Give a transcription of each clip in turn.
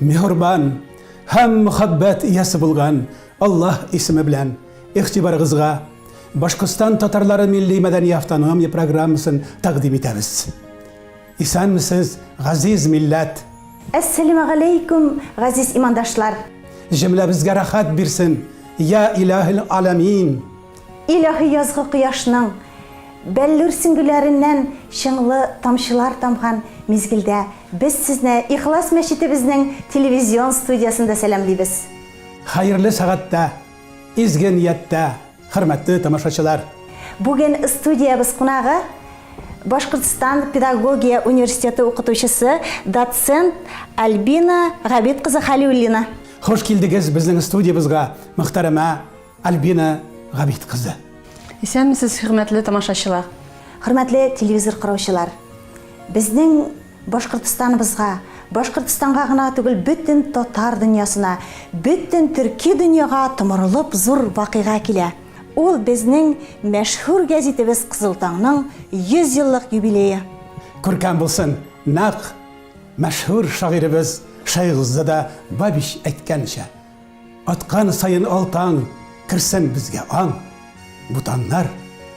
Мехурбан һәм мөхәббәт иясе булган Аллаһ исеме белән игътибарыгызга Башкортстан татарлары милли мәдәни автономия программасын тәкъдим итәбез. Исәнмесез, газиз милләт! Әссәләмә галәйкүм, газиз имандашлар! Җөмләбезгә рәхәт бирсен, йә илаһил аламин! Илаһи язгы кояшның бәллүр сөңгеләреннән чыңлы тамчылар тамган мизгелдә без сезне Ихлас мәчетебезнең телевизион студиясендә сәламлибез. Хәерле сәгатьтә, изге нияттә, хөрмәтле тамашачылар! Бүген студиябез кунагы, Башкортстан педагогия университеты укытучысы, доцент Альбина Габит кызы Хәлиуллина. Хуш килдегез безнең студиябызга, мөхтәрәмә Альбина Габит кызы. Исәнмесез, хөрмәтле тамашачылар. Хөрмәтле телевизор караучылар. Безнең Башкортстаныбызга, Башкортстанга гына түгел, бөтен татар дөньясына, бөтен төрки дөньяга томырылып зур вакыйга килә. Ул безнең мәшһүр гәзитебез Кызыл таңның 100 еллык юбилее. Күркәм булсын, нәкъ мәшһүр шагыйребез Шәйгъзада Бабич әйткәнчә. Аткан саен ал таң, Керсен безгә аң. Бу таңнар,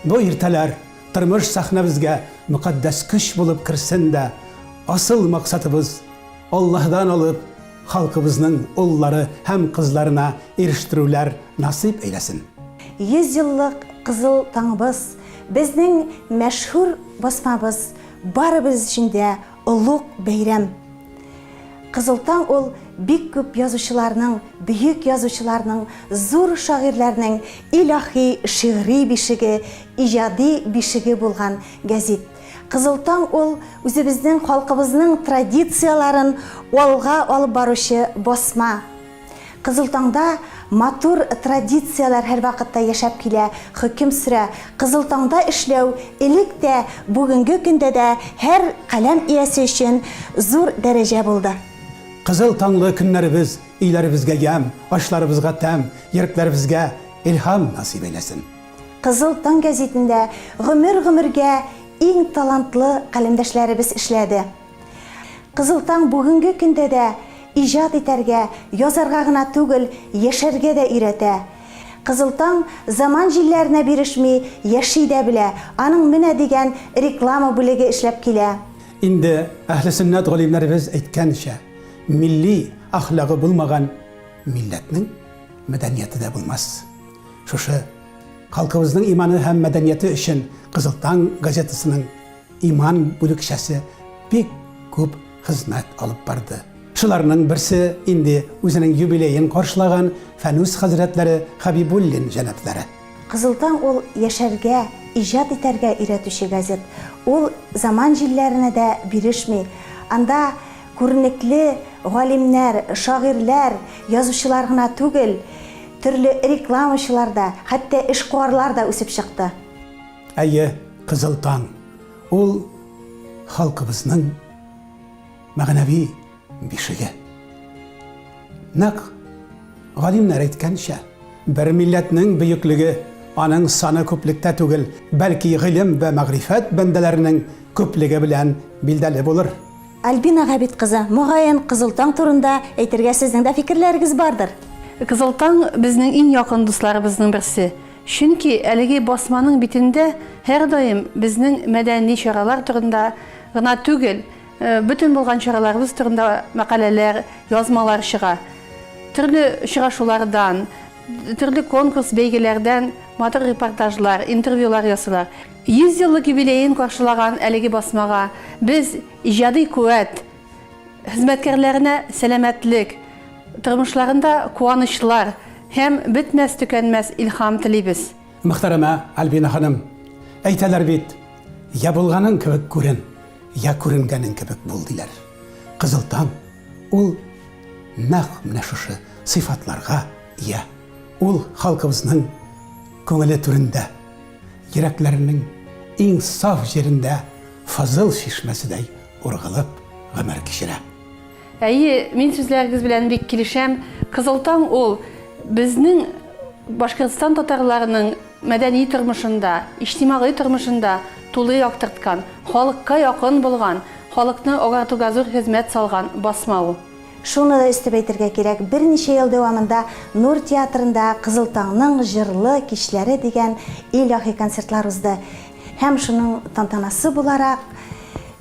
бу иртәләр, Тормыш сәхнәбезгә Мөкатдәс көч булып керсен дә, Асыл максатыбыз, Аллаһыдан алып, Халкыбызның уллары һәм кызларына Ирештерүләр насыйп әйләсен. Йөз еллык кызыл таңыбыз, Безнең мәшһүр басмабыз, Барыбыз өчен дә Олуг бәйрәм. Кызыл таң ул бик күп язучыларның, бөек язучыларның, зур шагыйрьләрнең илаһи шигъри бишеге, иҗади бишеге булган гәзит. Кызыл таң ул үзебезнең халкыбызның традицияләрен алга алып баручы басма. Кызыл таңда матур традицияләр һәрвакытта яшәп килә, хөкем сөрә. Кызыл таңда эшләү элек тә, бүгенге көндә дә һәр каләм иясе өчен зур дәрәҗә булды. Кызыл таңлы көннәребез өйләребезгә ямь, ашларыбызга тәм, йөрәкләребезгә илһам насыйп әйләсен! Кызыл таң гәзитендә гомер-гомергә иң талантлы каләмдәшләребез эшләде. Кызыл таң бүгенге көндә дә иҗат итәргә, язарга гына түгел, яшәргә дә өйрәтә. Кызыл таң заман җилләренә бирешми, яши дә белә, аның менә дигән реклама бүлеге эшләп килә. Инде әһлесөннәт галимнәребез әйткәнчә, милли әхлагы булмаган милләтнең мәдәнияте дә булмас. Шушы халкыбызның иманы һәм мәдәнияте өчен Кызыл таң газетасының Иман бүлекчәсе бик күп хезмәт алып барды. Шуларның берсе инде үзенең юбилеен каршылаган Фәнүс хәзрәтләре Хәбибуллин җәнапләре. Кызыл таң ул яшәргә, иҗат итәргә өйрәтүче газет. Ул заман җилләренә дә бирешми. Анда күренекле галимнәр, шагыйрьләр, язучылар гына түгел, төрле рекламачылар да, хәтта эшкуарлар да үсеп чыкты. Әйе, Кызыл таң, ул халкыбызның мәгънәви бишеге. Нәкъ галимнәр әйткәнчә, бер милләтнең бөеклеге аның саны күплектә түгел, бәлки гыйлем вә мәгърифәт бәндәләренең күплеге белән билдәле булыр. Альбина Габит кызы, мөгаен, Кызыл таң турында әйтергә сезнең дә фикерләрегез бардыр? Кызыл таң, безнең иң якын дусларыбызның берсе. Чөнки әлеге басманың битендә һәрдаим безнең мәдәни чаралар турында гына түгел, бөтен булган чараларыбыз турында мәкаләләр, язмалар чыга. Төрле очрашулардан, төрле конкурс-бәйгеләрдән матур репортажлар, интервьюлар ясыйлар. Йөз еллык юбилеен каршылаган әлеге басмага без иҗади куәт, Хезмәткәрләренә сәламәтлек, тормышларында куанычлар һәм бетмәс-төкәнмәс илһам телибез. Мөхтәрәмә Альбина ханым, әйтәләр бит, Я булганың кебек күрен, я күренгәнең кебек бул, диләр. Кызыл таң ул нәкъ менә шушы сыйфатларга ия. Ул халкыбызның күңеле түрендә, йөрәкләренең иң саф җирендә фазыл чишмәседәй Ургылып гомер кичерә. Әйе, мин сүзләрегез белән бик килешәм. Кызыл таң ул безнең Башкортстан татарларының мәдәни тормышында, иҗтимагый тормышында тулы яктырткан, халыкка якын булган, халыкны агартуга зур хезмәт салган басма ул. Шуны да өстәп әйтергә кирәк, берничә ел дәвамында Нур театрында Кызыл таңның җырлы кичләре дигән илаһи концертлар узды. Һәм шуның тантанасы буларак,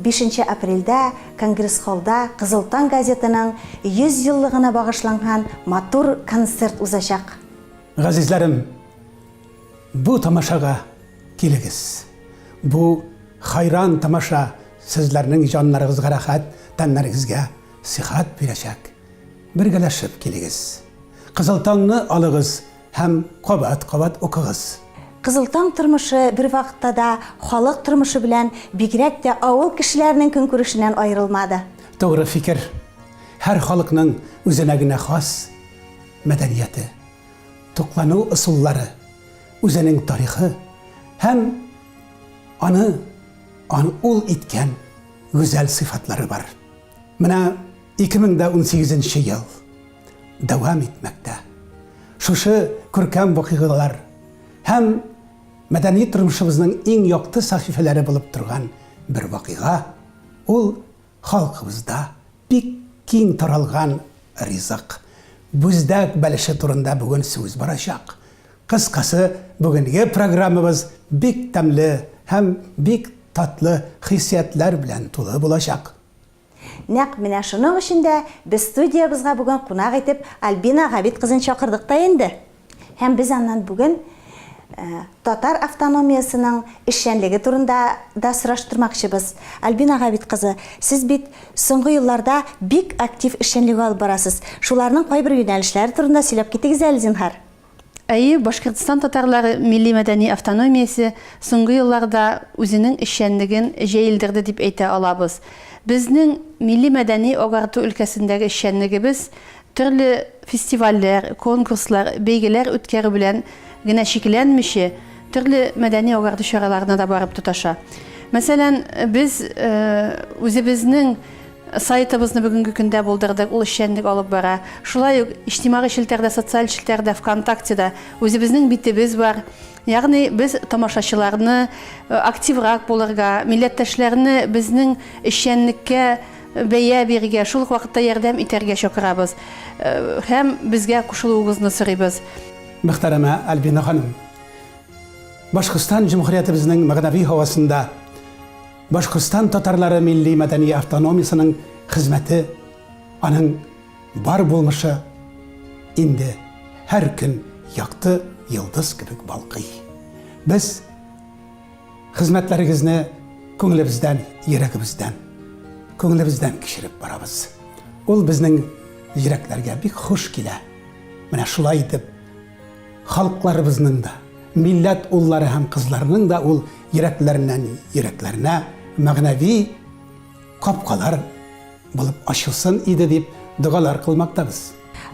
бишенче апрельдә конгресс-холлда Кызыл таң газетының 100 еллыгына багышланган матур концерт узачак. Газизләрем, бу тамашага килегез. Бу хайран тамаша сезләрнең җаннарыгызга рәхәт, тәннәрегезгә сихәт бирәчәк. Бергәләшеп килегез. Кызыл таңны алыгыз Һәм кабат-кабат укыгыз. Кызыл таң тормышы бервакытта да халык тормышы белән, бигрәк тә авыл кешеләренең көнкүрешеннән аерылмады. Тугры фикер. Һәр халыкның үзенә генә хас мәдәнияте, туклану ысуллары, үзенең тарихы һәм аны ан ул иткән гүзәл сыйфатлары бар. Менә 2018 нче ел. дәвам итмәктә. Шушы күркәм вакыйгалар һәм мәдәни тормышыбызның иң якты сәхифәләре булып торган бер вакыйга, ул халкыбызда бик киң таралган ризык, бүздәк бәлеше турында бүген сүз барачак. Кыскасы, бүгенге программабыз бик тәмле һәм бик татлы хиссиятләр белән тулы булачак. Нәкъ менә шуның өчен дә без студиябезгә бүген кунак итеп Альбина Габит кызын чакырдык та инде. Һәм без аннан бүген татар автономиясенең эшчәнлеге турында да сораштырмакчыбыз. Альбина Габит кызы, сез бит соңгы елларда бик актив эшчәнлеге алып барасыз. Шуларның кайбер юнәлешләре турында сөйләп китегез әле, зинһар. Әйе, Башкортстан татарлары милли-мәдәни автономиясе соңгы елларда үзенең эшчәнлеген җәелдерде дип әйтә алабыз. Безнең милли-мәдәни агарту өлкәсендәге эшчәнлегебез төрле фестивальләр, конкурслар, бәйгеләр үткәрү белән генә чикләнмиче, төрле мәдәни-агарту чараларына да барып тоташа. Мәсәлән, без үзебезнең Сайтыбызны бүгенге көндә булдырдык, ул эшчәнлек алып бара. Шулай ук иҗтимагый челтәрдә, социаль челтәрдә, ВКонтактеда үзебезнең битебез бар. Ягъни без тамашачыларны активрак булырга, милләттәшләрне безнең эшчәнлеккә бәя бирергә, шул ук вакытта ярдәм итәргә чакырабыз һәм безгә кушылуыгызны сорыйбыз. Мөхтәрәмә Альбина ханым! Башкортстан Җөмһүриятебезнең мәгънәви һавасында! Башкортстан татарлары милли-мәдәни автономиясенең хезмәте, аның бар булмышы инде һәр көн якты йолдыз кебек балкый. Без хезмәтләрегезне күңелебездән, йөрәгебездән, күңелебездән кичереп барабыз. Ул безнең йөрәкләргә бик хуш килә. Менә шулай итеп Халыкларыбызның да, милләт уллары һәм кызларының да ул йөрәкләреннән йөрәкләренә мәгънәви капкалар булып ачылсын иде дип догалар кылмактабыз.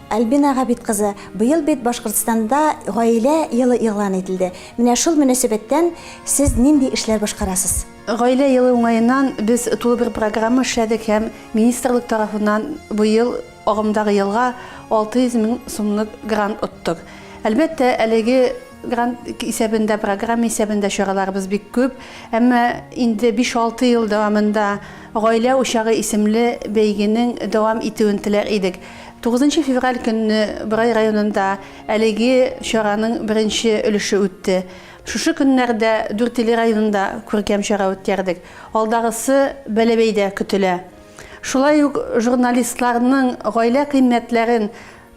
Альбина Габит кызы, быел бит Башкортстанда Гаилә елы игълан ителде. Менә шул мөнәсәбәттән сез нинди эшләр башкарасыз? Гаилә елы уңаеннан без тулы бер программа эшләдек һәм министрлык тарафыннан быел Агымдагы елга 600 мең сумлык грант оттык. Әлбәттә, әлеге грант исәбендә, программа исәбендә чараларыбыз бик күп. Әмма инде биш-алты ел дәвамында Гаилә учагы исемле бәйгенең дәвам итүен теләр идек. Тугызынчы февраль көнне Борай районында әлеге чараның беренче өлеше үтте. Шушы көннәрдә Дүртөйле районында күркәм чара үткәрдек. Алдагысы Бәләбәйдә көтелә. Шулай ук журналистларның гаилә кыйммәтләрен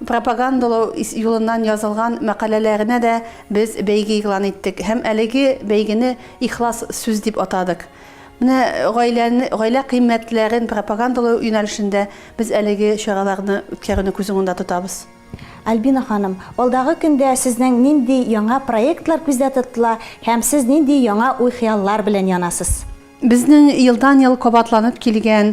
пропагандалау юлыннан язылган мәкаләләренә дә без бәйге игълан иттек һәм әлеге бәйгене Ихлас сүз дип атадык. Менә гаиләне, гаилә кыйммәтләрен пропагандалау юнәлешендә без әлеге чараларны үткәрүне күз уңында тотабыз. Альбина ханым, алдагы көндә сезнең нинди яңа проектлар күздә тотыла һәм сез нинди яңа уй-хыяллар белән янасыз? Безнең елдан-ел кабатланып килгән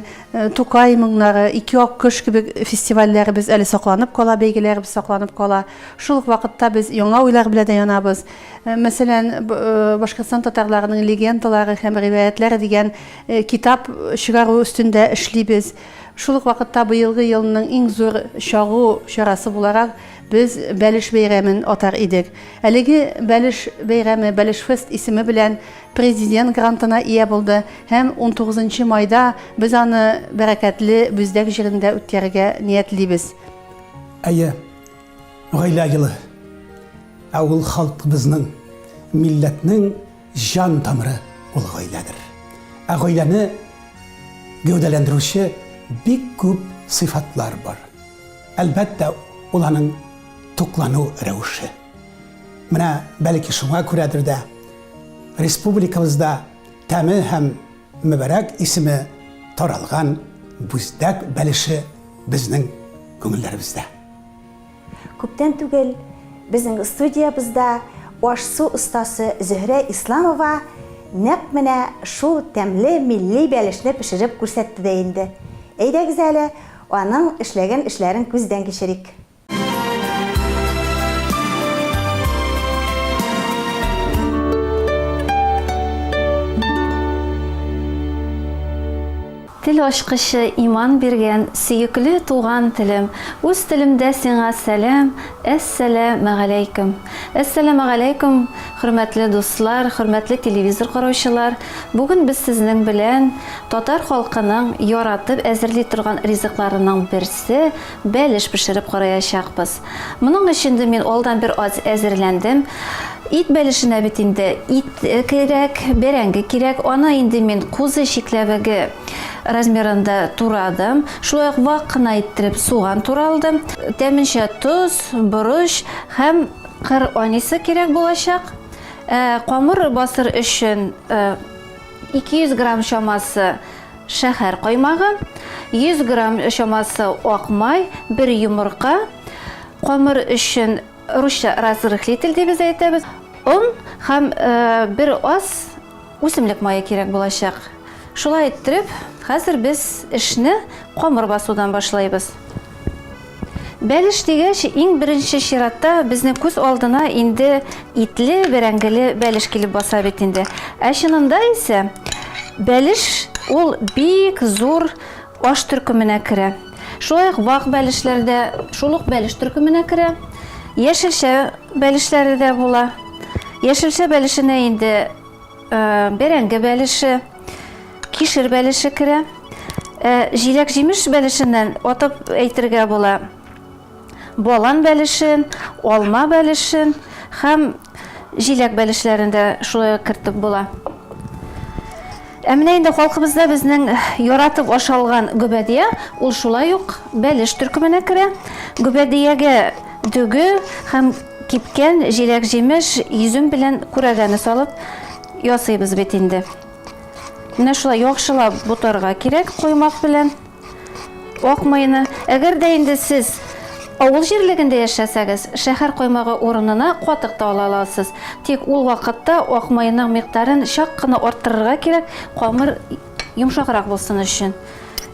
Тукай моңнары, Ике аккош кебек фестивальләребез әле сакланып кала, бәйгеләребез сакланып кала. Шул ук вакытта без яңа уйлар белән дә янабыз. Мәсәлән, Башкортстан татарларының легендалары һәм риваятьләре дигән китап чыгару өстендә эшлибез. Шул ук вакытта быелгы елның иң зур чагу чарасы буларак без Бәлеш бәйрәмен атар идек. Әлеге Бәлеш бәйрәме, Бәлешфест исеме белән Президент грантына ия булды һәм унтугызынчы майда без аны бәрәкәтле Бүздәк җирендә үткәрергә ниятлибез. Әйе, гаилә елы. Ә ул халкыбызның, милләтнең җан тамыры ул гаиләдер. Ә гаиләне гәүдәләндерүче бик күп сыйфатлар бар. Әлбәттә, ул аның туклану рәвеше. Менә бәлки шуңа күрәдер дә, республикабызда тәме һәм мөбәрәк исеме таралган бүздәк бәлеше безнең күңелләребездә. Күптән түгел безнең студиябездә аш-су остасы Зөһрә Исламова нәкъ менә шул тәмле милли бәлешне пешереп күрсәтте дә инде. Әйдәгез әле, аның эшләгән эшләрен күздән кичерик. Тел ачкычы иман биргән сөекле туган телем, үз телемдә сиңа сәлам, әссәләмәгаләйкем. Әссәләмәгаләйкем, хөрмәтле дуслар, хөрмәтле телевизор караучылар. Бүген без сезнең белән татар халкының яратып әзерли торган ризыкларының берсе, Бәлеш пешереп караячакбыз. Моның өчен дә мин алдан бер аз әзерләндем. Ит бәлешенә бит инде ит кирәк, бәрәңге кирәк. Аны инде мин кузы чикләвеге размерында турадым. Шулай ук вак кына иттереп суган туралдым. Тәменчә тоз, борыч һәм кыр анисы кирәк булачак. Камыр басыр өчен 200 грамм чамасы шәһәр каймагы, 100 грамм чамасы ак май, бер йомырка, камыр өчен русча разрыхлитель дип без әйтәбез, он һәм бер аз үсемлек мае кирәк булачак. Шулай иттереп, хәзер без эшне камыр басудан башлыйбыз. Бәлеш дигәч, иң беренче чиратта безнең күз алдына инде итле, бәрәңгеле бәлеш килеп баса бит инде. Ә чынында исә бәлеш ул бик зур аш төркеменә керә. Шулай ук вак бәлешләр дә шул ук бәлеш төркеменә керә. Яшелчә бәлешләре дә була. Яшелчә бәлешенә инде Э, бәрәңге бәлеше, кишер бәлеше керә. Э, җиләк җимеш бәлешеннән атып әйтергә була. Балан бәлешен, алма бәлешен һәм җиләк бәлешләрен дә шулай кертеп була. Ә менә инде халкыбызда безнең яратып ашалган гөбәдия, ул шулай ук бәлеш төркеменә керә. Гөбәдиягә дөге һәм Кипкән җиләк-җимеш, йөзем белән күрәгәне салып ясыйбыз бит инде. Менә шулай яхшылап бутарга кирәк коймак белән ак майны. Әгәр дә инде сез авыл җирлегендә яшәсәгез, шәһәр коймагы урынына катык та ала аласыз. Тик ул вакытта ак майның микъдарын чак кына арттырырга кирәк, камыр йомшаграк булсын өчен.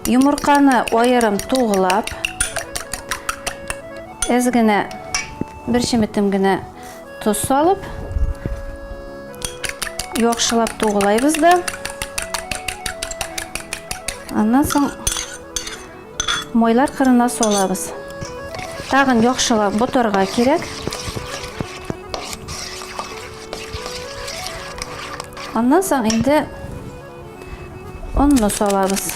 Йомырканы аерым туглап, әз генә бер чеметем генә тоз салып, яхшылап туглайбыз да. Аннан соң майлар кырына салабыз. Тагын яхшылап ботарга кирәк. Аннан соң инде онны салабыз.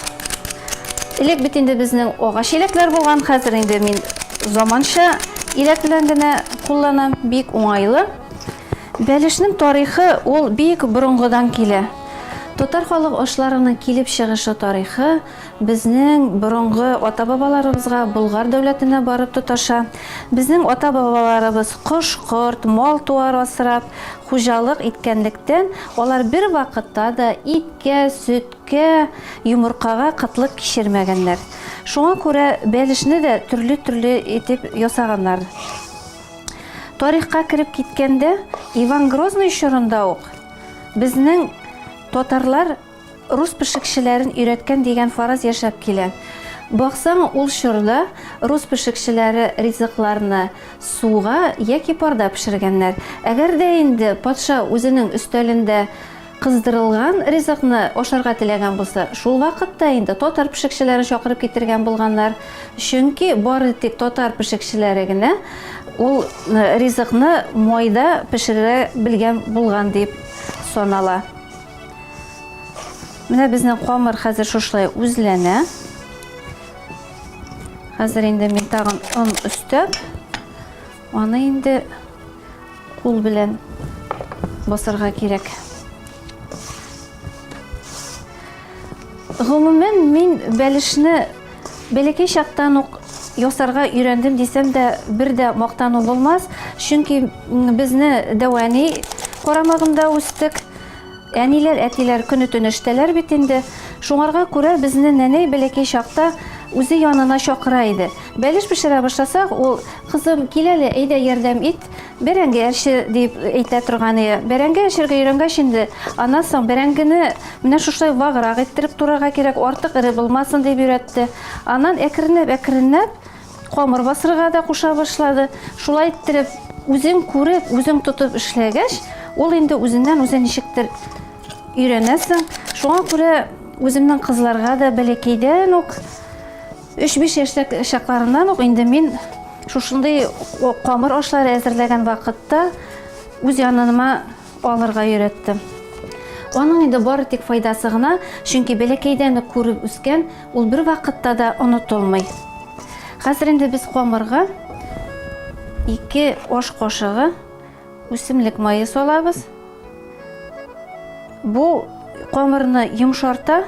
Элек бит инде безнең агач иләкләр булган, хәзер инде мин заманча иләк белән генә кулланам, бик уңайлы. Бәлешнең тарихы ул бик борынгыдан килә. Татар халык ашларының килеп чыгышы тарихы, Безнең борынгы ата-бабаларыбызга Болгар дәүләтенә барып тоташа. Безнең ата-бабаларыбыз кош-корт, мал-туар асрап, хуҗалык иткәнлектән, алар бервакытта да иткә, сөткә, йомыркага кытлык кичермәгәннәр. Шуңа күрә бәлешне дә төрле-төрле итеп ясаганнар. Тарихка кереп киткәндә, Иван Грозный чорында ук безнең татарлар, Рус пешекчеләрен өйрәткән дигән фараз яшәп килә. Баксаң, ул чорда рус пешекчеләре ризыкларны суга яки парда пешергәннәр. Әгәр дә инде патша үзенең өстәлендә кыздырылган ризыкны ашарга теләгән булса, шул вакытта инде татар пешекчеләрен чакырып китергән булганнар, чөнки бары тик татар пешекчеләре генә ул ризыкны майда пешерә белгән булган дип санала. Менә безнең камыр хәзер шушылай үзләнә. Хәзер инде мин тагын он өстәп, аны инде кул белән басырга кирәк. Гомумән, мин бәлешне Бәләкәй чактан ук ясарга өйрәндем дисәм дә, бер дә мактану булмас, чөнки безне дәвәни карамагында үстек. Әниләр, әтиләр көне-төне эштәләр бит инде. Шуңарга күрә безне нәнәй бәләкәй чакта үзе янына чакыра иде. Бәлеш пешерә башласак, ул, Кызым, кил әле, әйдә, ярдәм ит. Бәрәңге әрче дип әйтә торган иде. Бәрәңге әрчергә өйрәнгәч инде, аннан соң бәрәңгене менә шушылай ваграк иттереп турарга кирәк, артык эре булмасын дип өйрәтте. Аннан әкренләп-әкренләп камыр басырга да куша башлады. Шулай иттереп, үзең күреп, үзең тотып эшләгәч, ул инде үзеннән-үзе ничектер өйрәнәсең. Шуңа күрә үземнең кызларга да бәләкәйдән үк Өч-биш яшьтәк чакларымнан ук инде мин шушындый камыр ашлары әзерләгән вакытта үз яныма алырга өйрәттем. Аның инде бары тик файдасы гына, чөнки бәләкәйдән үк күреп үскән, ул бер вакытта да онытылмый. Хәзер инде без камырга ике аш кашыгы үсемлек мае салабыз. Бу камырны йомшарта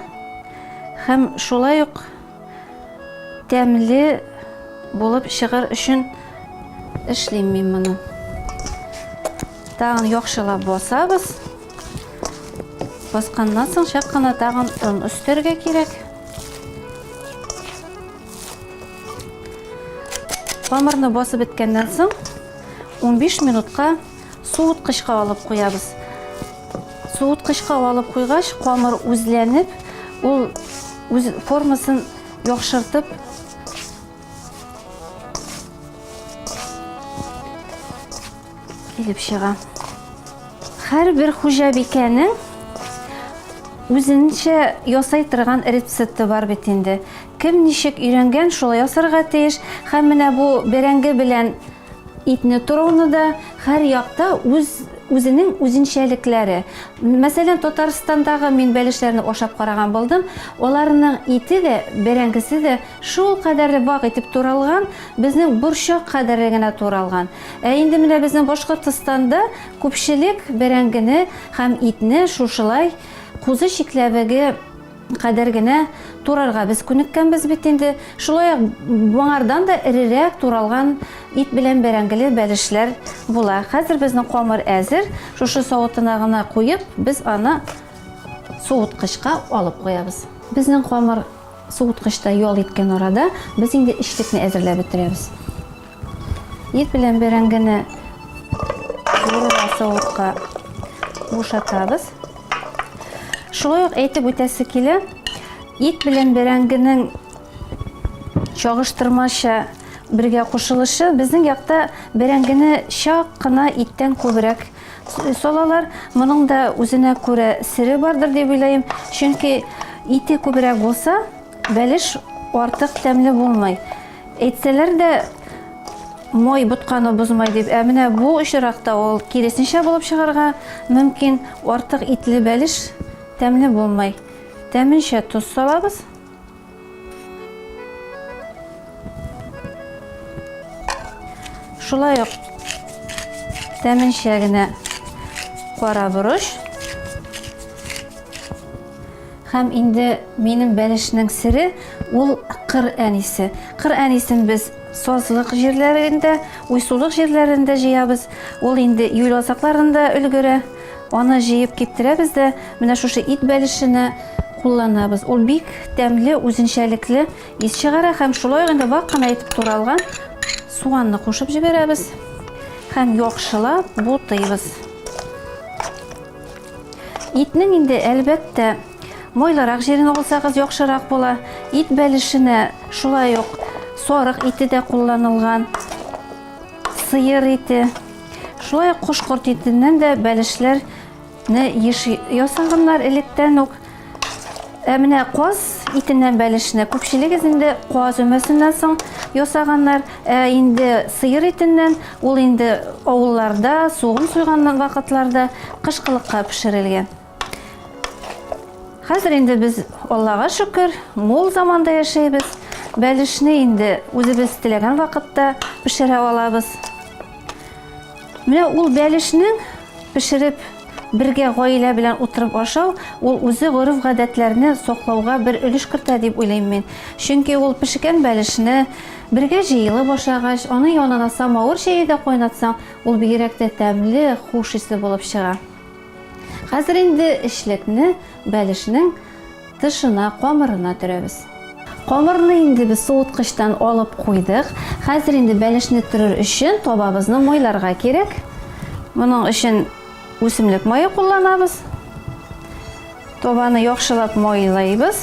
һәм шулай ук Тәмле булып чыгыр өчен эшлим мин моны. Тагын яхшылап басабыз. Басканнан соң чак кына тагын он өстәргә кирәк. Хамырны басып беткәннән соң 15 минутка Суыткычка алып куябыз. Суыткычка алып куйгач, камыр үзләнеп, ул үз формасын яхшыртып килеп чыга. Һәрбер хуҗабикәнең үзенчә ясай торган рецепты бар бит инде. Кем ничек өйрәнгән, шулай ясарга тиеш. Һәм менә бу бәрәңге белән Итне торуны да һәр якта үз үзенең үзенчәлекләре. Мәсәлән, Татарстандагы мин бәлешләрне ашап караган булдым. Аларның ите дә, бәрәңгесе дә шул кадәрле вак итеп туралган, безнең борчак кадәрле генә туралган. Ә инде менә безнең Башкортстанда күпчелек бәрәңгене һәм итне шушылай кузы чикләвеге Кадәр генә турарга без күнеккәнбез бит инде. Шулай ук моңардан да эрерәк туралган ит белән бәрәңгеле бәлешләр була. Хәзер безнең камыр әзер. Шушы савытына гына куеп, без аны суыткычка алып куябыз. Безнең камыр суыткычта ял иткән арада, без инде эчлекне әзерләп бетерәбез. Ит белән бәрәңгене зурыла савытка бушатабыз. Шулай ук әйтеп үтәсе килә, ит белән бәрәңгенең чагыштырмача бергә кушылышы безнең якта бәрәңгене чак кына иттән күбрәк салалар. Моның да үзенә күрә сере бардыр дип уйлыйм. Чөнки ите күбрәк булса, Бәлеш артык тәмле булмый. Әйтсәләр дә, май ботканы бозмай дип, ә менә бу очракта ул киресенчә булып чыгарга мөмкин. Артык итле бәлеш тәмле булмый. Тәменчә тоз салабыз. Шулай ук тәменчә генә кара борыч. Һәм инде минем бәлешнең сере ул кыр әнисе. Кыр әнисен без сазлык җирләрендә, уйсулык җирләрендә җыябыз. Ул инде июль азакларында өлгерә. Аны җыеп киптерәбез дә, менә шушы ит бәлешенә кулланабыз. Ул бик тәмле, үзенчәлекле ис чыгара һәм шулай ук инде вак кына итеп туралган суганны кушып җибәрәбез һәм яхшылап бутыйбыз. Итнең инде, әлбәттә, майлырак җирен алсагыз яхшырак була. Ит бәлешенә шулай ук сарык ите дә кулланылган, сыер ите. Шулай ук кош-корт итеннән дә бәлешләрне еш ясаганнар электән үк. Ә менә каз итеннән бәлешне күпчелегез инде каз өмәсеннән соң ясаганнар. Ә инде сыер итеннән ул инде авылларда, сугын суйган вакытларда кышкылыкка пешерелгән. Хәзер инде без, Аллага шөкер, мул заманда яшәйбез. Бәлешне инде үзебез теләгән вакытта пешерә алабыз. Менә ул бәлешнең пешереп бергә гаилә белән утырып ашау, ул үзе гореф-гадәтләрне саклауга бер өлеш кертә дип уйлыйм мин. Чөнки ул пешкән бәлешне бергә җыелып ашагач, аның янына самавыр чәе дә кайнатсаң, ул бигрәк тә тәмле, хуш исле булып чыга. Хәзер инде эчлекне бәлешнең Тышына, камырына төрәбез. Камырны инде без суыткычтан алып куйдык. Хәзер инде бәлешне төрер өчен табабызны майларга кирәк. Моның өчен үсемлек мае кулланабыз. Табаны яхшылап майлыйбыз.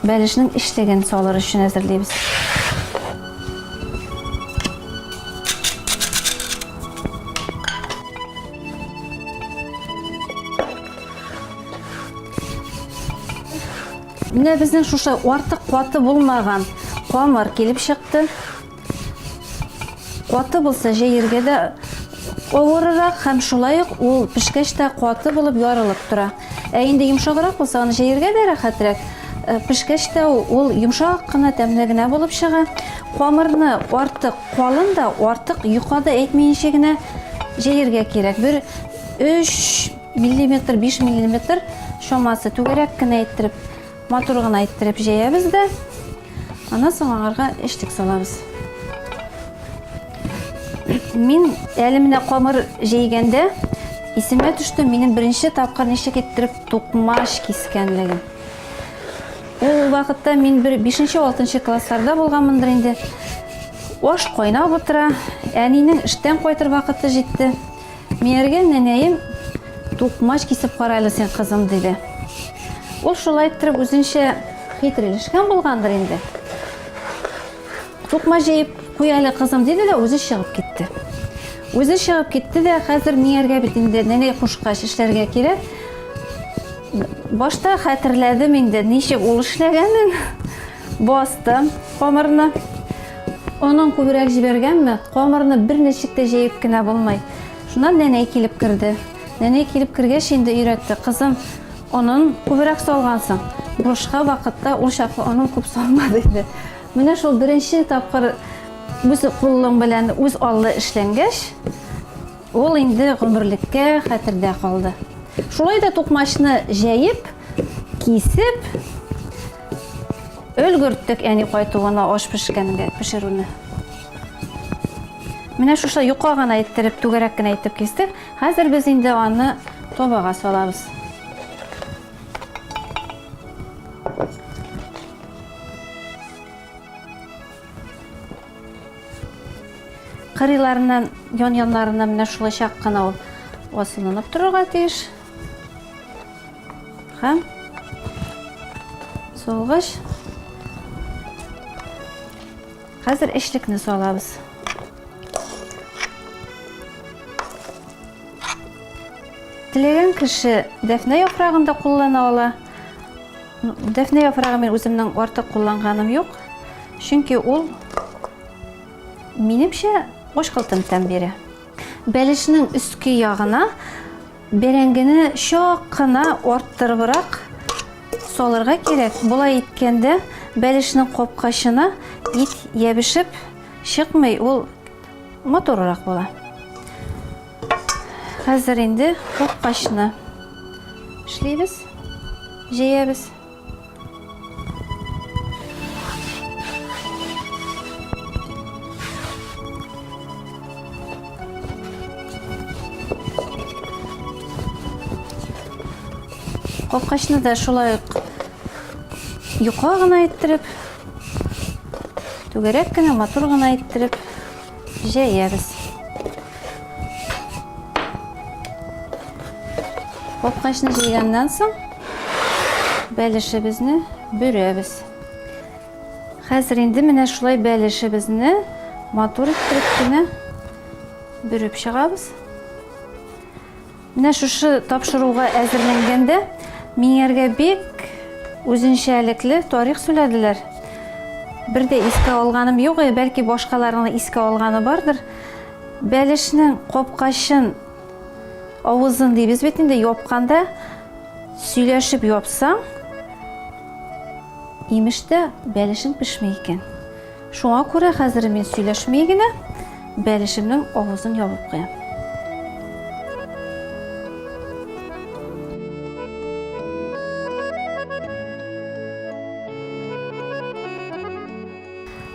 Бәлешнең эчлеген салыр өчен әзерлибез. Менә безнең шушы артык каты булмаган камыр килеп чыкты. Каты булса җәергә дә авырырак һәм шулай ук ул пешкәч тә каты булып ярылып тора. Ә инде йомшаграк булса аны җәергә дә рәхәтрәк. Э, пешкәч тә ул йомшак кына тәмле генә булып чыга. Камырны артык калын да, артык юка да әйтмәенчә генә җәергә кирәк. Бер 3 миллиметр, 5 миллиметр шамасы түгәрәк кенә әйттереп Матур гына иттереп җәябез дә, аннан соң аңарга эчтек салабыз. Мин әле менә камыр җәйгәндә исемә төште, минем беренче тапкыр ничек иттереп тукмаш кискәнлегем. Ул вакытта мин бер 5-6 классларда булганмындыр инде. Аш кайнап утыра, әнинең эштән кайтыр вакыты җитте. Минерген нәнәем, Тукмач кисеп кара әле син, кызым, диде. Ул шулай иттереп үзенчә хитрелешкән булгандыр инде. Тукмач җыеп куй әле, кызым, диде дә үзе чыгып китте. Үзе чыгып китте дә хәзер миңәргә бит инде нәнәй кушкач эшләргә кирәк. Башта хәтерләдем инде, ничек ул эшләгәнен. Бастым камырны. Онын күбрәк җибәргәнме, камырны бер ничек тә җәеп кенә булмый. Шуннан нәнәй килеп керде. Нәнәй килеп кергәч инде өйрәтте. Кызым, онын күбрәк салгансың. Бушка вакытта ул чаклы онын күп салма диде. Менә шул беренче тапкыр үз кулың белән үз аллы эшләнгәч, ул инде гомерлеккә хәтердә калды. Шулай да тукмачны җәеп, кисеп, Өлгерттек әни кайтуына аш пешкәнгә пешерүне. Менә шушы юка гына иттереп, түгәрәк кенә итеп кистек. Хәзер без инде аны тобага салабыз. Кырыйларыннан, ян-яннарыннан менә шулай чак кына ул асылынып торырга тиеш. Һәм солгыч. Хәзер эшлекне салабыз. Теләгән кеше дәфнә яфрагын да куллана ала. Дәфнә яфрагы мин үземнең артык кулланганым юк. Чөнки ул минемчә ашкылтым тәм бирә. Бәлешнең өске ягына бәрәңгене чак кына арттырыбрак салырга кирәк. Болай иткәндә бәлешнең капкачына ит ябешеп чыкмый, ул матуррак була. Хәзер инде капкачны эшлибез, җәябез. Капкачны да шулай ук юка гына иттереп, түгәрәк кенә матур гына иттереп Җәябез. Капкачны җыйганнан соң бәлешебезне бөрәбез. Хәзер инде менә шулай бәлешебезне матур иттереп кенә бөреп чыгабыз. Менә шушы тапшыруга әзерләнгәндә миңәргә бик үзенчәлекле тарих сүләделәр. Бер дә искә алганым юк, э, бәлки башкаларның искә алганы бардыр. Бәлешнең капкачын авызын дибез бит инде япканда сөйләшеп япсаң, имеш тә бәлешең пешми икән. Шуңа күрә хәзер мин сөйләшми генә бәлешемнең авызын ябып куям.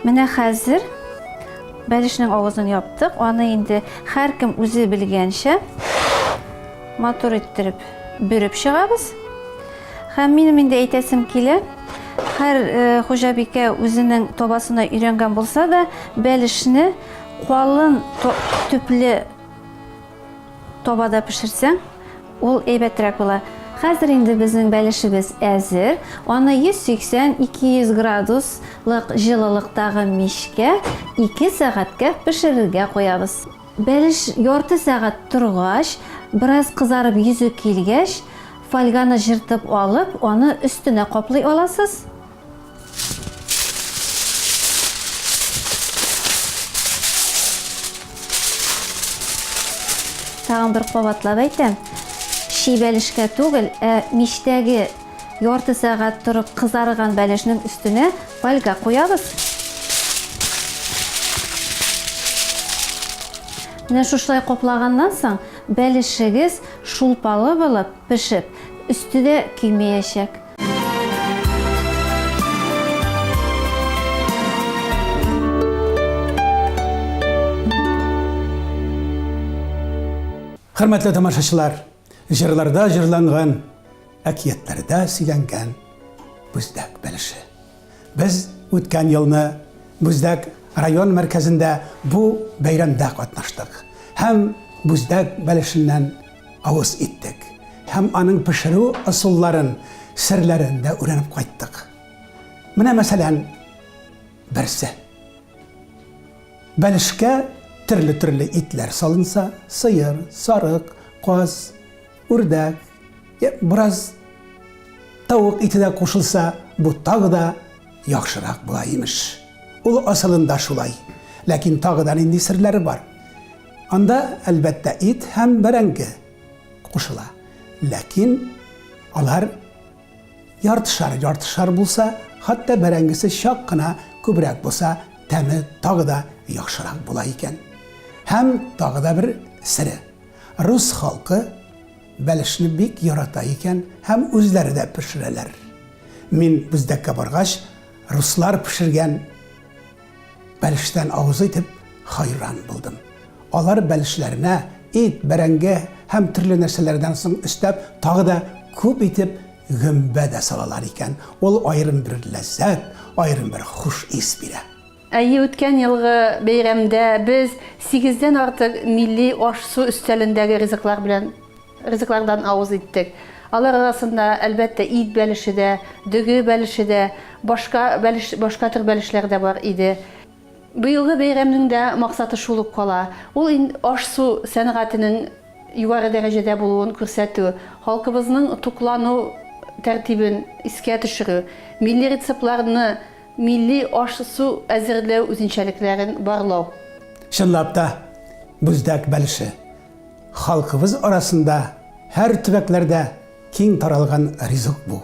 Менә хәзер бәлешнең авызын яптык. Аны инде һәркем үзе белгәнчә матур иттереп бөреп чыгабыз. Һәм минем инде әйтәсем килә, һәр э, хуҗабикә үзенең табасына өйрәнгән булса да, бәлешне калын төпле табада пешерсәң, ул әйбәтрәк була. Хәзер инде безнең бәлешебез әзер. Аны 180-200 градуслык җылылыктагы мичкә 2 сәгатькә пешерергә куябыз. Бәлеш ярты сәгать торгач, бераз кызарып йөзе килгәч, Фольганы җыртып алып, аны өстенә каплый аласыз. Тагын бер кабатлап әйтәм, чи бәлешкә түгел, ә мичтәге ярты сәгать торып кызарган бәлешнең өстенә фольга куябыз. Менә шушылай каплаганнан соң бәлешегез Шулпалы булып пешеп, өсте дә көймәячәк. Хөрмәтле тамашачылар, җырларда җырланган Әкиятләрдә сөйләнгән Бүздәк бәлеше. Без үткән елны Бүздәк район мәркәзендә бу бәйрәмдә катнаштык һәм Бүздәк бәлешеннән авыз иттек һәм аның пешерү ысулларын, серләрен дә үрәнеп кайттык. Менә мәсәлән, берсе. Бәлешкә төрле-төрле итләр салынса, сыер, сарык, каз, Үрдәк, я, бераз тавык ите дә кушылса, бу тагы да яхшырак була, имеш. Ул асылында шулай. Ләкин тагы да нинди серләре бар? Анда, әлбәттә, ит һәм бәрәңге кушыла. Ләкин алар яртышар, яртышар булса, хәтта бәрәңгесе чак кына күбрәк булса, тәме тагы да яхшырак була икән. Һәм тагы да бер сере. Рус халкы бәлешне бик ярата икән һәм үзләре дә пешерәләр. Мин Бүздәккә баргач, руслар пешергән бәлештән авыз итеп хайран булдым. Алар бәлешләренә ит, бәрәңге һәм төрле нәрсәләрдән соң өстәп тагы да күп итеп гөмбә дә салалар икән. Ул аерым бер ләззәт, аерым бер хуш ис бирә. Әйе, үткән елгы бәйрәмдә без сигездән артык милли аш-су өстәлендәге ризыклар белән ризыклардан авыз иттек. Алар арасында, әлбәттә, ит бәлеше дә, дөге бәлеше дә, башка бәлеш, башка төр бәлешләр дә бар иде. Быелгы бәйрәмнең дә максаты шул ук кала, ул ин аш-су сәнгатенең югары дәрәҗәдә булуын күрсәтү, халкыбызның туклану тәртибен искә төшерү, милли рецептларны, Милли аш-су әзерләү үзенчәлекләрен барлау. Чынлап та, Бүздәк бәлеше, халкыбыз арасында һәр төбәкләрдә киң таралган ризык бу.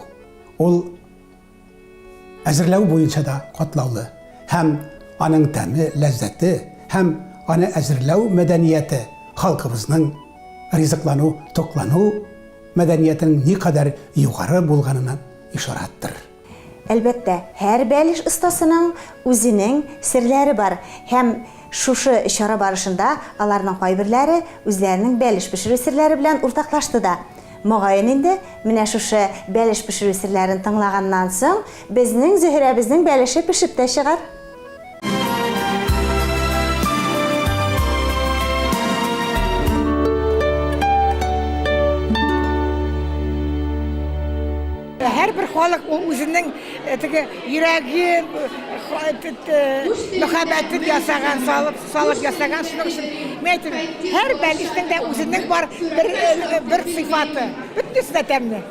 Ул әзерләү буенча да катлаулы һәм аның тәме, ләззәте һәм аны әзерләү мәдәнияте халкыбызның ризыклану, туклану мәдәниятенең никадәр югары булганына ишарәттер. Әлбәттә, һәр бәлеш остасының үзенең серләре бар һәм шушы чара барышында аларның кайберләре үзләренең бәлеш пешерү серләре белән уртаклашты да. Мөгаен инде, менә шушы бәлеш пешерү серләрен тыңлаганнан соң, безнең Зөһрәбезнең бәлеше пешеп тә чыгар. Һәрбер халык ул үзенең э, теге йөрәген, мөхәббәтен ясаган, салып, салып ясаган шуның өчен. Мин әйтәм, һәр бәлешнең дә үзенең бар бер э, бер сыйфаты. Бөтенесе дә тәмле.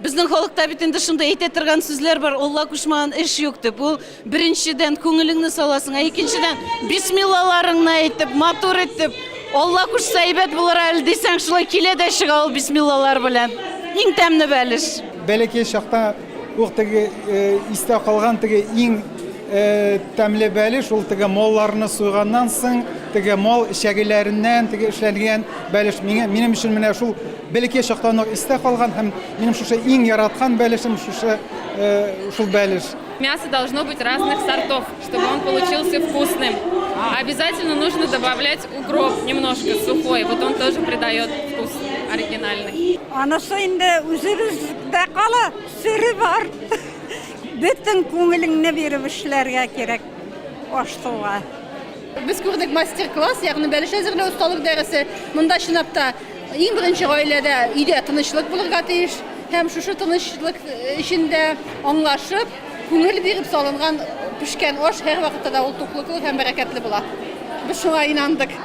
Безнең халыкта бит инде шундый әйтә торган сүзләр бар, Алла кушмаган эш юк дип. Ул беренчедән күңелеңне саласың, ә икенчедән бисмиллаларыңны әйтеп, матур итеп, Алла кушса әйбәт булыр әле дисәң, шулай килә дә чыга ул бисмиллалар белән. Иң тәмне бәлеш. Бәләкәй чакта ук теге истә калган теге иң тәмле бәлеш ул теге малларны суйганнан соң, теге мал эчәгеләреннән теге эшләнгән бәлеш. Миңа минем өчен менә шул Бәләкәй чактан ук истә калган һәм минем шушы иң яраткан бәлешем шушы шул бәлеш. Мясо должно быть разных сортов, чтобы он получился вкусным. Обязательно нужно добавлять укроп немножко сухой, вот он тоже придает вкус оригинальный. Анысы инде үзебездә кала, сире бар. Бөтен күңелеңне биреп эшләргә кирәк аш-суга. Без күрдек мастер-класс, ягъни бәлеш әзерләү осталык дәресе. Монда чынлап та Иң беренче гаиләдә өйдә тынычлык булырга тиеш һәм шушы тынычлык эчендә аңлашып, күңел биреп салынган пешкән аш һәрвакытта да ул туклыклы һәм бәрәкәтле була. Без шуңа инандык.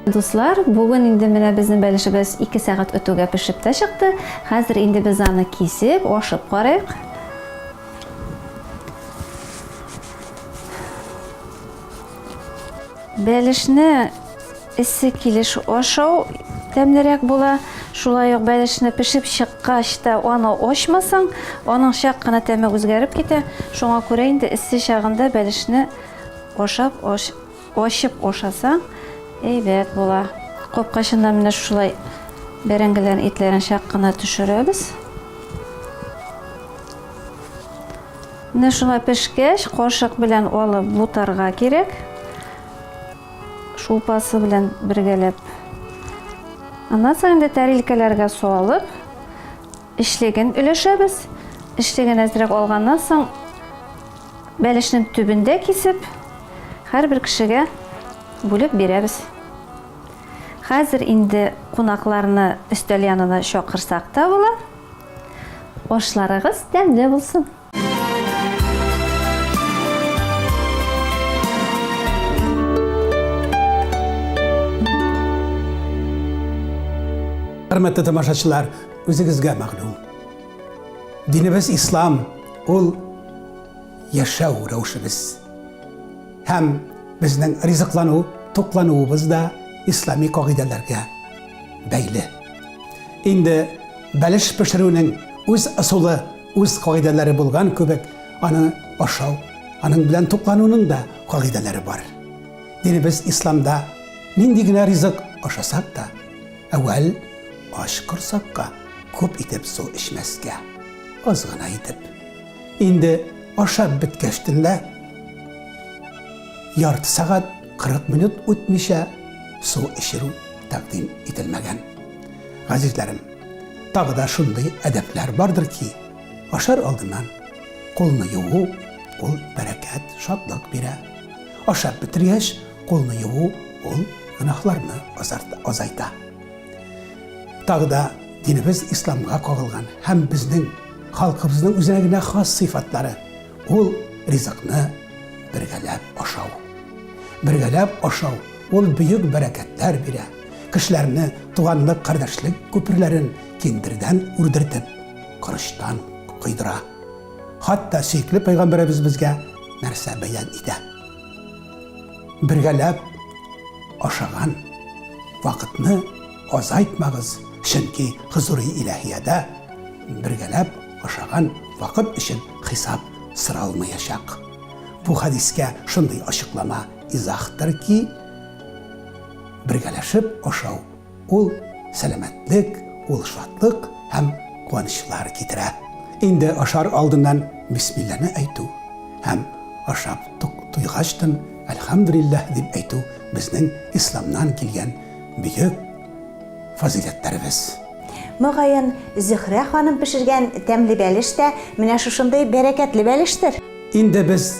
Дуслар, бүген инде менә безнең бәлешебез ике сәгать үтүгә пешеп тә чыкты. Хәзер инде без аны кисеп, ашып карыйк. Бәлешне эссе килеш ашау тәмлерәк була. Шулай ук бәлешне пешеп чыккач та аны ачмасаң, аның чак кына тәме үзгәреп китә. Шуңа күрә инде эссе чагында бәлешне ашап Ачып ашасаң, әйбәт була. Капкачыннан менә шулай бәрәңгеләрнең итләрен чак кына төшерәбез. Менә шуңа пешкәч, кашык белән алып бутарга кирәк. Шулпасы белән бергәләп. Аннан соң инде тәрилкәләргә салып, Эчлеген өләшәбез. Эчлеген әзрәк алганнан соң, бәлешнең төбен дә кисеп, һәрбер кешегә бүлеп бирәбез. Хәзер инде кунакларны өстәл янына чакырсак та була. Ашларыгыз тәмле булсын! Хөрмәтле тамашачылар, үзегезгә мәгълүм. Динебез ислам, ул яшәү рәвешебез. Һәм безнең ризыклану, туклануыбыз да ислами кагыйдәләргә бәйле. Инде бәлеш пешерүнең үз ысулы Үз кагыйдәләре булган кебек, аны ашау, аның белән туклануның да кагыйдәләре бар. Динебез исламда нинди генә ризык ашасак та, әүвәл ач корсакка күп итеп су эчмәскә, аз гына итеп. Инде ашап беткәч төнлә ярты сәгать 40 минут үтмичә су эчерү тәкъдим ителмәгән. Газизләрем, Тагы да шундый әдәпләр бардыр ки, ашар алдыннан кулны юу, ул бәрәкәт, шатлык бирә. Ашап бетергәч, кулны юу, ул гөнаһларны азайта. Тагы да динебез исламга кагылган һәм безнең халкыбызның үзенә генә хас сыйфатлары ул ризыкны бергәләп ашау. Бергәләп ашау Ул бөек бәрәкәтләр бирә, кешеләрне туганлык-кардәшлек күперләрен киндердән үрдертеп, корычтан койдыра. Хатта сөекле пәйгамбәребез безгә нәрсә бәян итә? Бергәләп ашаган вакытны азайтмагыз, чөнки хозури иләһиядә бергәләп ашаган вакыт өчен хисап соралмаячак. Бу хәдискә шундый ачыклама Изахтыр ки, бергәләшеп ашау ул сәламәтлек, ул шатлык һәм куанычлар китерә. Инде ашар алдыннан бисмилләне әйтү һәм ашап туйгачтын әлхәмдүлилләһ дип әйтү безнең исламнан килгән бөек фазыйләтләребез. Мөгаен, Зөһрә ханым пешергән тәмле бәлеш тә менә шушындый бәрәкәтле бәлештер. Инде без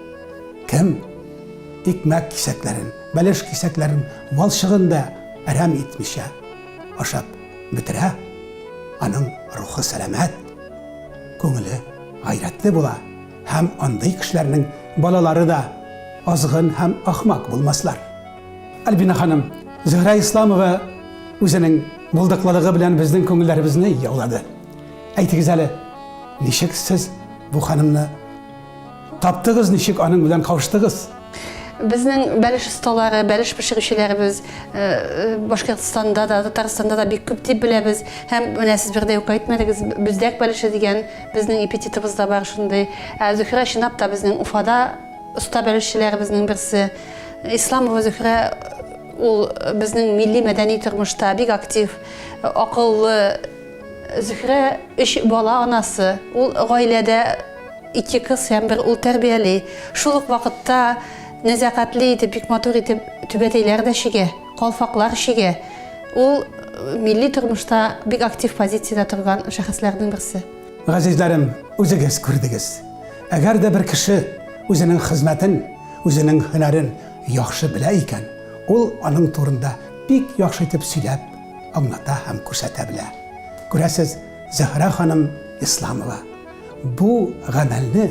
Кем икмәк кисәкләрен, бәлеш кисәкләрен валчыгын да әрәм итмичә ашап бетерә, аның рухы сәламәт, күңеле гайрәтле була һәм андый кешеләрнең балалары да азгын һәм ахмак булмаслар. Альбина ханым, Зөһрә Исламова үзенең булдыклылыгы белән безнең күңелләребезне яулады. Әйтегез әле, ничек сез бу ханымны Таптыгыз, ничек аның белән кавыштыгыз? Безнең бәлеш осталары, бәлеш пешерүчеләребез э, э, Башкортстанда да, Татарстанда да бик күп дип беләбез. Һәм менә сез бердә юк әйтмәдегез, бүздәк бәлеше дигән безнең эпитетыбыз да бар шундый. Ә Зөһрә чынлап та безнең Уфада оста бәлешчеләребезнең берсе. Исламова Зөһрә ул безнең милли мәдәни тормышта бик актив, акыллы, Зөһрә үш бала анасы. Ул гаиләдә Ике кыз һәм бер ул тәрбияли. Шул ук вакытта нәзакәтле итеп, бик матур итеп түбәтәйләр дә чигә, калфаклар чигә. Ул милли тормышта бик актив позициядә торган шәхесләрнең берсе. Газизләрем, үзегез күрдегез. Әгәр дә бер кеше үзенең хезмәтен, үзенең һөнәрен яхшы белә икән, ул аның турында бик яхшы итеп сөйләп, аңлата һәм күрсәтә белә. Күрәсез, Зөһрә ханым Исламова. бу гамәлне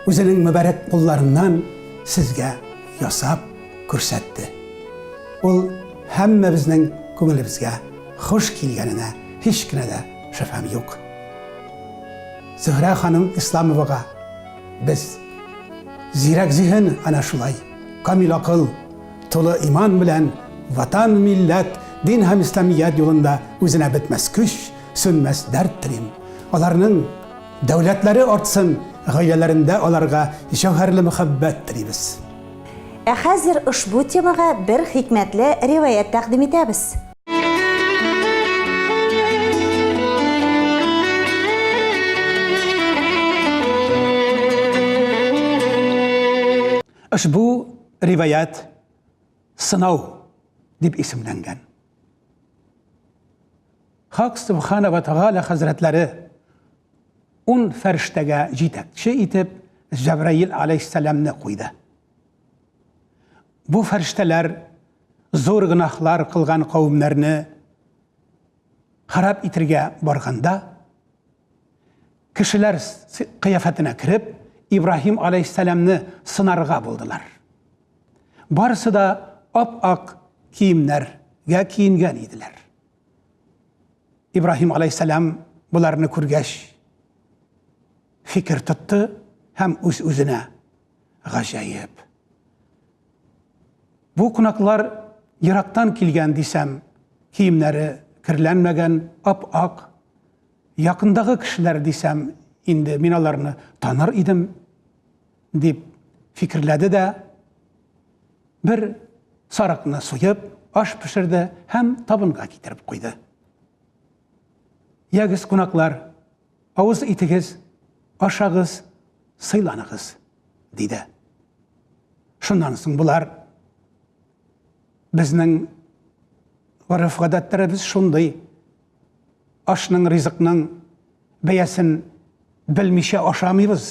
үзенең мөбарәк кулларыннан сезгә ясап күрсәтте. Ул һәммәбезнең күңелебезгә хуш килгәненә һич кенә дә шөбһәм юк. Зөһрә ханым Исламовага без зирәк зиһен ана шулай, камил акыл, тулы иман белән ватан, милләт, дин һәм исламият юлында үзенә бетмәс көч, Сүнмәс дәрт телим. Аларның дәүләтләре артсын, гаиләләрендә аларга җәүһәрле мәхәббәт телибез. Ә хәзер ошбу темага бер хикмәтле риваять тәкъдим итәбез. Ошбу риваять Сынау дип исемләнгән. Хак Субхана вә Тәгалә хәзрәтләре ун фәрештәгә җитәкче итеп Җәбраил аләйһиссәламне куйды. Бу фәрештәләр зур гөнаһлар кылган кавемнәрне харап итергә барганда, кешеләр кыяфәтенә кереп, Ибраһим аләйһиссәламне сынарга булдылар. Барысы да ап-ак киемнәргә киенгән иделәр. Ибраһим алейһиссәлам боларны күргәч, фикер тотты һәм үз-үзенә гаҗәеп. Бу кунаклар ерактан килгән дисәм, киемнәре керләнмәгән, ап-ак. Якындагы кешеләр дисәм, инде мин аларны таныр идем. дип фикерләде дә, бер сарыкны суеп, аш пешерде һәм табынга китереп куйды. Ягез, кунаклар, авыз итегез, ашагыз, сыйланыгыз, диде. Шуннан соң болар Безнең гореф-гадәтләребез шундый. Ашның, ризыкның бәясен белмичә ашамыйбыз.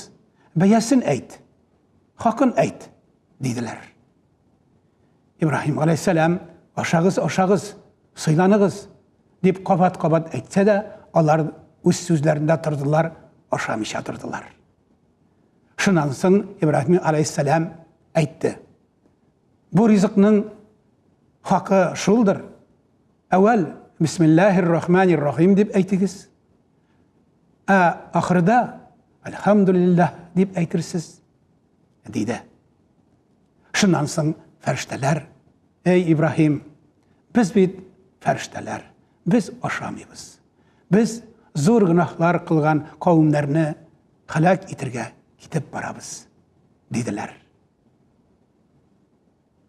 Бәясен әйт, хакын әйт, диделәр. Ибраһим галәйһиссәлам, ашагыз, ашагыз, сыйланыгыз, дип кабат-кабат әйтсә дә, алар үз сүзләрендә тордылар, ашамыйча тордылар. Шуннан соң Ибраһим галәйһиссәлам әйтте. Бу ризыкның хакы шулдыр. Әүвәл бисмиллаһир рахманир рахим дип әйтегез. Ә ахырда әлхәмдулиллаһ дип әйтерсез, диде. Шуннан соң фәрештәләр, эй Ибраһим, без бит фәрештәләр, без ашамыйбыз. Без зур гөнаһлар кылган кавымнарны халак итергә китеп барабыз, диделәр.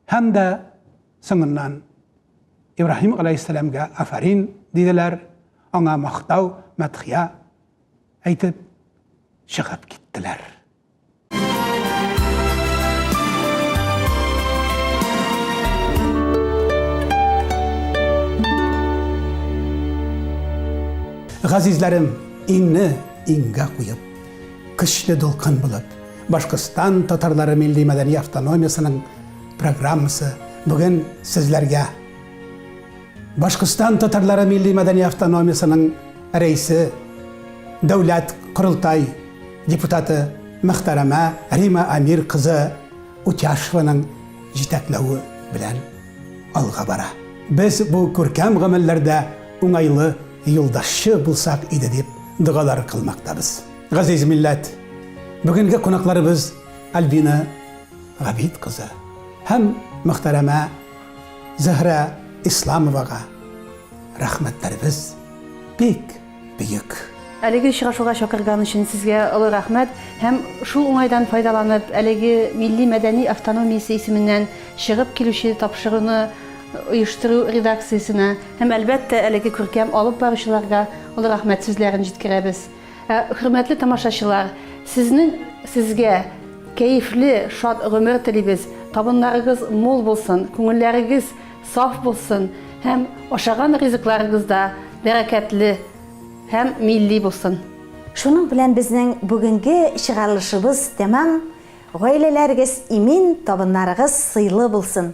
Һәм дә соңыннан Ибраһим галәйһиссәламгә афарин диделәр, аңа мактау, мәдхия әйтеп чыгып киттеләр. Газизләрем, иңне иңгә куеп, көчле дулкын булып, Башкортстан татарлары милли-мәдәни автономиясенең программасы бүген сезләргә. Башкортстан татарлары милли-мәдәни автономиясенең рәисе, дәүләт корылтай депутаты мөхтәрәмә Рима Амир кызы Утяшеваның җитәкләве белән алга бара. Без бу күркәм гамәлләрдә уңайлы юлдашчы булсак иде дип догалар кылмактабыз. Газиз милләт, бүгенге кунакларыбыз Альбина Габит кызы һәм мөхтәрәмә Зөһрә Исламовага рәхмәтләребез бик бөек. Әлеге очрашуга чакырган өчен сезгә олы рәхмәт һәм шул уңайдан файдаланып, әлеге милли-мәдәни автономиясе исеменнән чыгып килүче тапшыруны оештыру редакциясенә һәм, әлбәттә, әлеге күркәм алып баручыларга олы рәхмәт сүзләрен җиткерәбез. Ә, хөрмәтле тамашачылар, сезнең, сезгә кәефле, шат гомер телибез, табыннарыгыз мул булсын, күңелләрегез саф булсын һәм ашаган ризыкларыгыз да бәрәкәтле һәм милли булсын. Шуның белән безнең бүгенге чыгарылышыбыз тәмам, гаиләләрегез имин, табыннарыгыз сыйлы булсын!